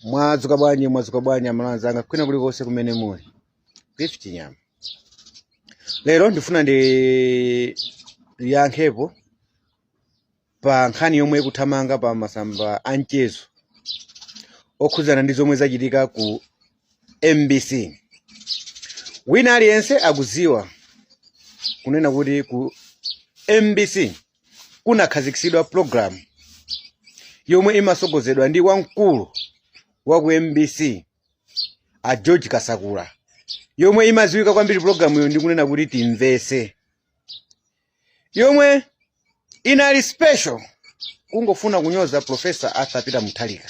mwadzuka bwanji mwadzuka bwanji aMalawi anzanga kwina kulikonse kumene muli Gift Chinyama lero ndifuna ndiyankhepo pa nkhani yomwe ikuthamanga pa masamba a mchezo okhudzana ndi zomwe zachitika ku mbc wina aliyense akudziwa kunena kuti ku mbc kunakhazikitsidwa pulogalamu yomwe imasogozedwa ndi wamkulu wa ku mbc a george kasakula yomwe imadziwika kwambiri pulogalamuyo ndi kunena kuti timvese yomwe inali special kungofuna kunyoza profesa arthur peter muthalika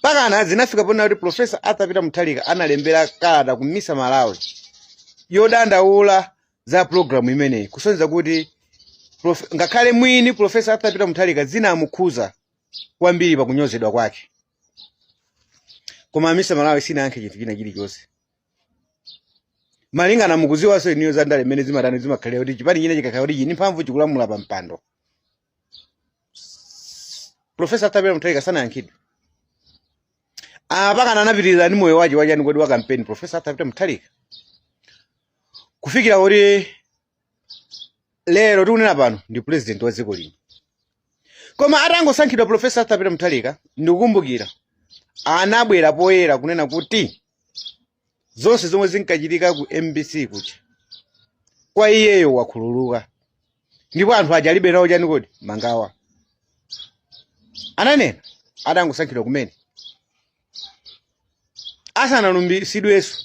pakana zinafika ponena kuti profesa arthur peter muthalika analembera kalata ku misa malawi yodandaula za programu imeneyi kusonyeza kuti ngakhale mwini profesa arthur peter muthalika zinamukhuza kwambiri pakunyozedwa kwake koma misa malawi sinayankhe chinthu china chilichonse malingana mukuziwanso iniyo za ndale mmene zimatani zimakhalira kuti chipani china chikakhala kuti chili ni mphamvu chikulamula pa mpando profesa arthur peter mutharika sanayankhidwe mpakana anapitiriza ndi moyo waje wa chani kodi wa kampeni profesa arthur peter mutharika kufikira kuti lero tikunena pano ndi president wa dziko lino koma atangosankhidwa profesa arthur peter mutharika ndikukumbukira anabwera poyera kunena kuti zonse zomwe zinkachitika ku mbc kuja kwa iyeyo wakhululuka ndipo anthu aja alibe nawo chani kodi mangawa ananena atangosankhidwa kumene asanalumbisidwenso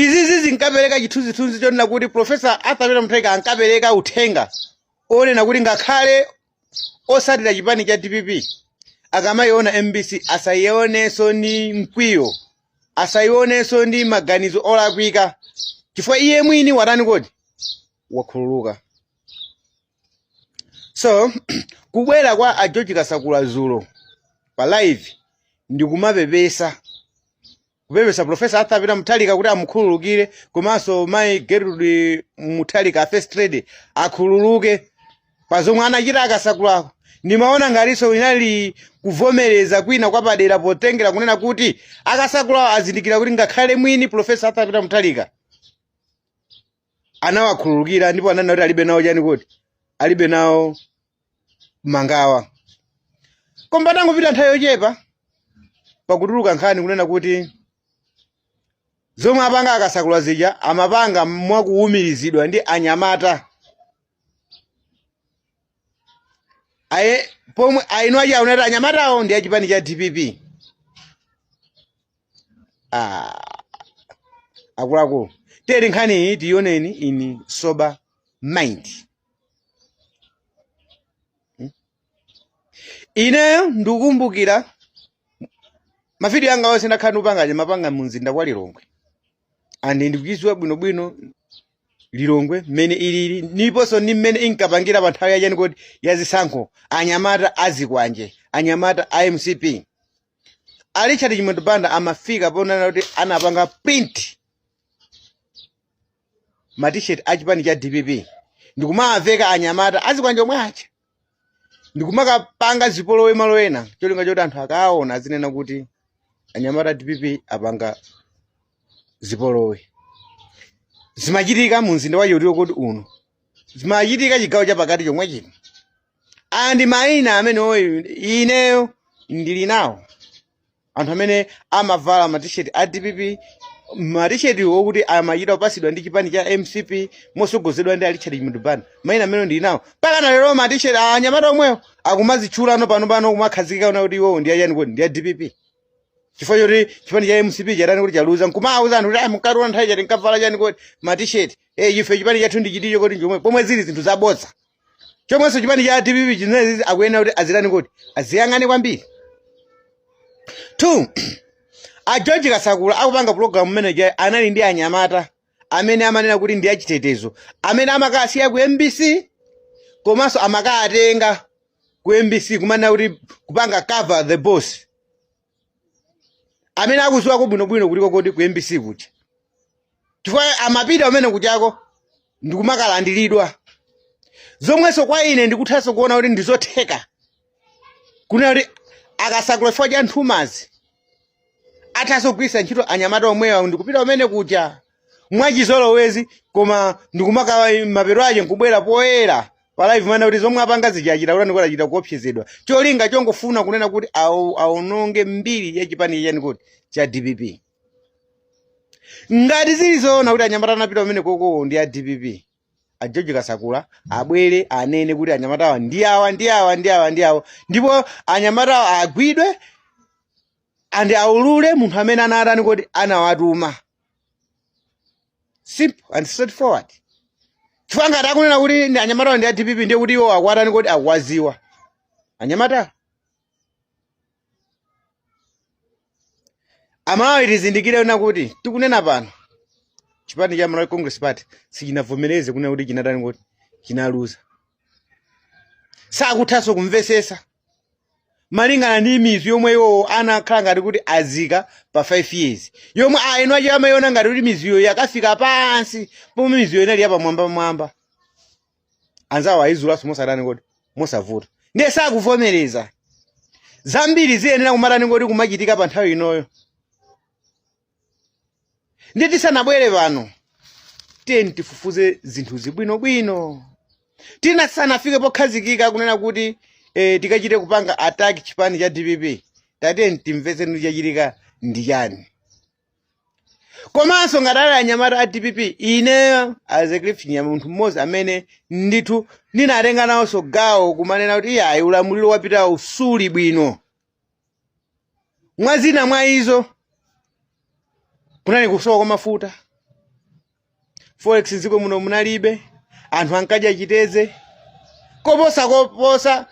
izizi zinkapereka chithunzithunzi chonena kuti profesa arthur peter mutharika ankapereka uthenga onena kuti ngakhale osatira chipani cha dpp akamayiona mbc asayionenso ndi mkwiyo asayionenso ndi maganizo olakwika chifukwa iye mwini watani kodi wakhululuka so kubwera kwa a george kasakula zulo pa live ndikumapepesa kupepesa profesa arthur peter muthalika kuti amukhululukire komanso mayi gertrude muthalika a first lady akhululuke pa zomwe anachita a kasakulawo ndimaona ngatinso inali kuvomereza kwina kwapadera potengera kunena kuti a kasakulawo azindikira kuti ngakhale mwini profesa arthur peter muthalika anawakhululukira ndipo ananena kuti alibe nawo chani kodi alibe nawo mangawa koma patangopita nthawi yochepa pakutuluka nkhani kunena kuti zomwe apanga a Kasakula zija amapanga mwakuwumirizidwa ndi anyamata aye pomwe ena aja anati anyamatawo ndi achipani cha dpp ah akuluakulu tiyeni nkhani iyi tiyioneni in sober mind ineyo ndikukumbukira mavidiyo anga onse ndakhala ndikupanga aja mapanga mu mzinda wa lilongwe and ndikuchidziwa bwinobwino lilongwe mmene ilili ndiponso ndi mmene inkapangira pa nthawi yachani kodi ya zisankho anyamata azikwanje anyamata a mcp a richard chimwendo banda amafika ponena kuti anapanga print matisheti a chipani cha dpp ndikumawaveka anyamata azikwanje omwe aja ndikumakapanga zipolowe malo ena cholinga choti anthu akaona azinena kuti anyamata a dpp apanga zipolowe zimachitika mu mzinda wa chotiko kodi uno zimachitika chigawo chapakati chomwe chino and mayina amenewo ineyo ndili nawo anthu amene amavala matisheti a dpp matisheti okuti amachita kupasidwa ndi chipani cha mcp mosogozedwa ndi a Richard Chimwendo Banda mayina amene ndili nawo mpaka na lero matisheti a anyamata omwewo akumazitchulano panopano kumakhazikika ona kuti iwo ndi achani kodi ndi a dpp chifukwa choti chipani cha mcp chatani kodi chaluza nkumawuza anthu kuti "Ah, mukationa nthawi chati nkavala chani kodi matisheti eh ife chipani chathu ndi chiticho kodi njomwe pomwe zili zinthu zabodza chomwenso chipani cha dpp chinenezi akuyenera kuti azitani kodi aziyang'ane kwambiri two a george kasakula akupanga pulogalamu mmene aja anali ndi anyamata amene amanena kuti ndi achitetezo amene amakasiya ku mbc komanso amakatenga ku mbc kumanena kuti kupanga cover the boss amene akuziwako bwinobwino kutiko kodi ku mbc kuja chifukwa amapita kumene kujako ndikumakalandiridwa zomwenso kwa ine ndikuthanso kuona kuti ndizotheka kunena kuti a Kasakula chifukwa cha nthumazi athanso kugwiritsa ntchito anyamata omwewa ndikupita kumene kuja mwachizolowezi koma ndikumaka mapeto ache nkubwera poyera pa live mana kuti zomwe apanga zija achita kutani kodi achita kuopsezedwa cholinga chongofuna kunena kuti awo- awononge mbiri ya chipani chani kodi cha dpp ngati zili zoona kuti anyamata anapita kumenekoko ndi a dpp a george kasakula abwere anene kuti anyamatawa ndi awa ndi awa ndi awa ndi awa ndipo anyamatawa agwidwe ndipo aulule munthu amene anatani kuti anawatuma simple and straightforward chifukwa ngati akunena kuti ndi anyamata a dpp ndiye kuti iwo akuwatani kuti akuwaziwa anyamatawo amalawi tizindikire kunena kuti tikunena pano chipani cha malawi congress party sichinavomereze kunena kuti chinatani kuti chinaluza sakuthanso kumvesesa malingana ndi mizu yomwe iwowo anakhala ngati kuti azika pa 5 years yomwe aeni wache amayiona ngati kuti mizuyo yakafika pansi pomwe mizuyo inali yapamwambamwamba anzawo ayizulanso mosatani kuti mosavuta ndiye sakuvomereza zambiri ziyenera kumatani kuti kumachitika pa nthawi inoyo ndiye tisanabwere pano tiyeni tifufuze zinthuzi bwinobwino tisanafike pokhazikika kunena kuti eh, tikachite kupanga attack chipani cha dpp tatiyeni timvetse kuti chachitika ndi chani komanso ngati ali anyamata a dpp ineyo as a cliff nyama munthu mmodzi amene ndithu ndinatenga nawonso gawo kumanena kuti iyayi ulamuliro wapitawu suli bwino mwa zina mwa izo kunali kusowa kwa mafuta forex mdziko muno munalibe anthu ankadya chitedze koposa koposa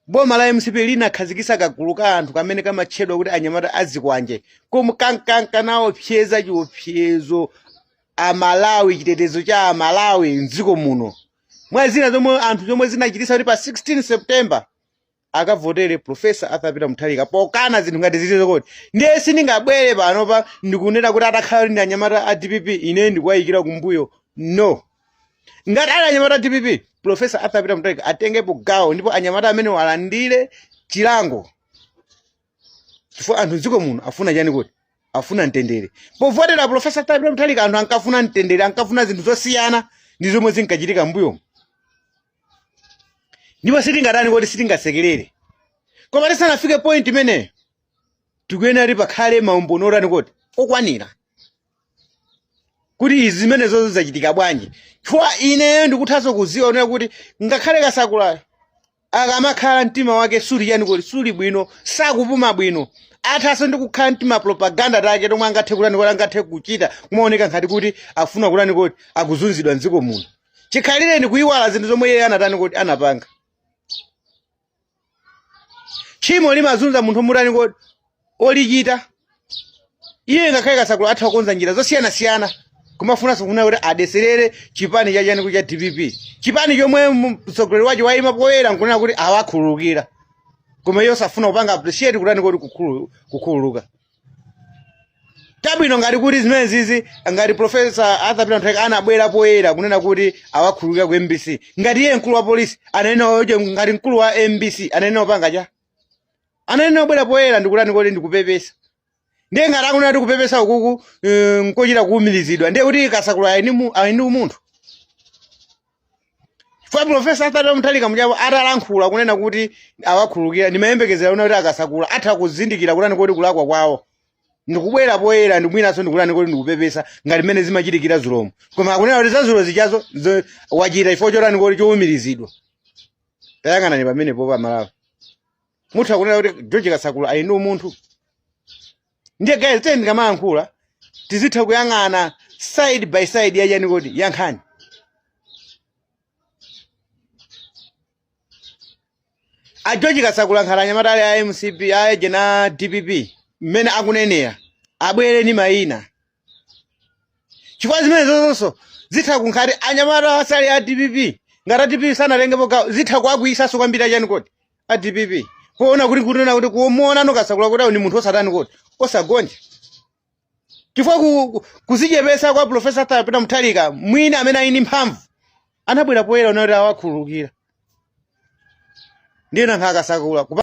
boma la mcp linakhazikisa kagulu ka anthu kamene kamatchedwa kuti anyamata azikwanje komwe kankanka nawopseza chiopsezo amalawi chitetezo cha amalawi mdziko muno mwa zina zomwe anthu zomwe zinachitisa kuti pa 16 september akavotere professor arthur peter mutharika pokana zinthu ngati zilizo kuti ndiye sindingabwere panopa ndikunena kuti atakhala kuti ndi anyamata a dpp ine ndikuwayikira kumbuyo no ngati ali anyamata a dpp professor arthur peter mutharika atengepo gawo ndipo anyamata amenewa alandire chilango chifukwa anthu mdziko muno afuna chani kuti afuna mtendere povotera professor arthur peter mutharika anthu ankafuna mtendere ankafuna zinthu zosiyana ndi zomwe zinkachitika mbuyomu ndipo sitingatani kuti sitingasekerere koma tisanafike point imeneyo tikuyenera kuti pakhale maumboni otani kuti okwanira kuti izi zimenezo zachitika bwanji chifukwa ineyo ndikuthanso kuziwa kunena kuti ngakhale kasakulayo akamakhala mtima wake suli chani kuti suli bwino sakupuma bwino athanso ndi kukhala ndi tima propaganda take tomwe angathe kutani kuti angathe kuchita kumaoneka ngati kuti afuna kutani kuti akuzunzidwa mdziko muno chikhalire ni kuyiwala zinthu zomwe iye anatani kodi anapanga tchimo limazunza munthu mutani kodi olichita iye ngakhale kasakula atha kukonza njira zosiyanasiyana kumafunanso kufuna kuti adeserere chipani chachani ku cha dpp chipani chomwe mu- mtsogoleri wacho wayima poyera nkunena kuti awakhululukira koma iye osafuna kupanga appreciate kutani kodi kukhulu- kukhululuka tabwino ngati kuti zimenezizi ngati profesa arthur peter mutharika anabwera poyera kunena kuti awakhululukira ku mbc ngati iye mkulu wa polisi ananena eeh ngati mkulu wa mbc ananena opanga cha ananena obwera poyera ndikutani kodi ndikupepesa ndiye ngati akunena kuti kupepesa ukuku eh, nkochita kuumirizidwa ndiye kuti kasakula ali ni mu- ali ni umunthu chifukwa profesa arthur mutharika muja po atalankhula kunena kuti awakhululukira ndimayembekezera kunena kuti a kasakula atha kuzindikira kutani kodi kulakwa kwawo ndikubwera poyera ndi mwinaso ndikutani kodi ndikupepesa ngati mmene zimachitikira zulomo koma akunena kuti zazulo zichazo zo- wachita chifukwa chotani kodi chowumirizidwa tayang'anani pamenepo amalawi mutha kunena kuti george kasakula ali ndi umunthu ndiye guys tiyeni ndikamayankhula tizitha kuyang'ana side by side yachani kodi ya nkhani a george kasakula nkhati anyamata ali a mcp eeh a dpp mmene akunenera abwere ni mayina chifukwa zimenezozonso zitha kunkhati anyamata asali a dpp ngati a dpp sanatengepo gawo zitha kuakwiyisanso kwambiri achani kodi a dpp poona kodi kunena kuti kumuona no kasakula kuti awo ni munthu osatani kodi osagonja chifukwa ku- ku- kuzichepesa kwa profesa arthur peter mutharika mwini amene ali ndi mphamvu anabwera poyera kunena kuti awakhululukira ndiye nankha a kasakula kupa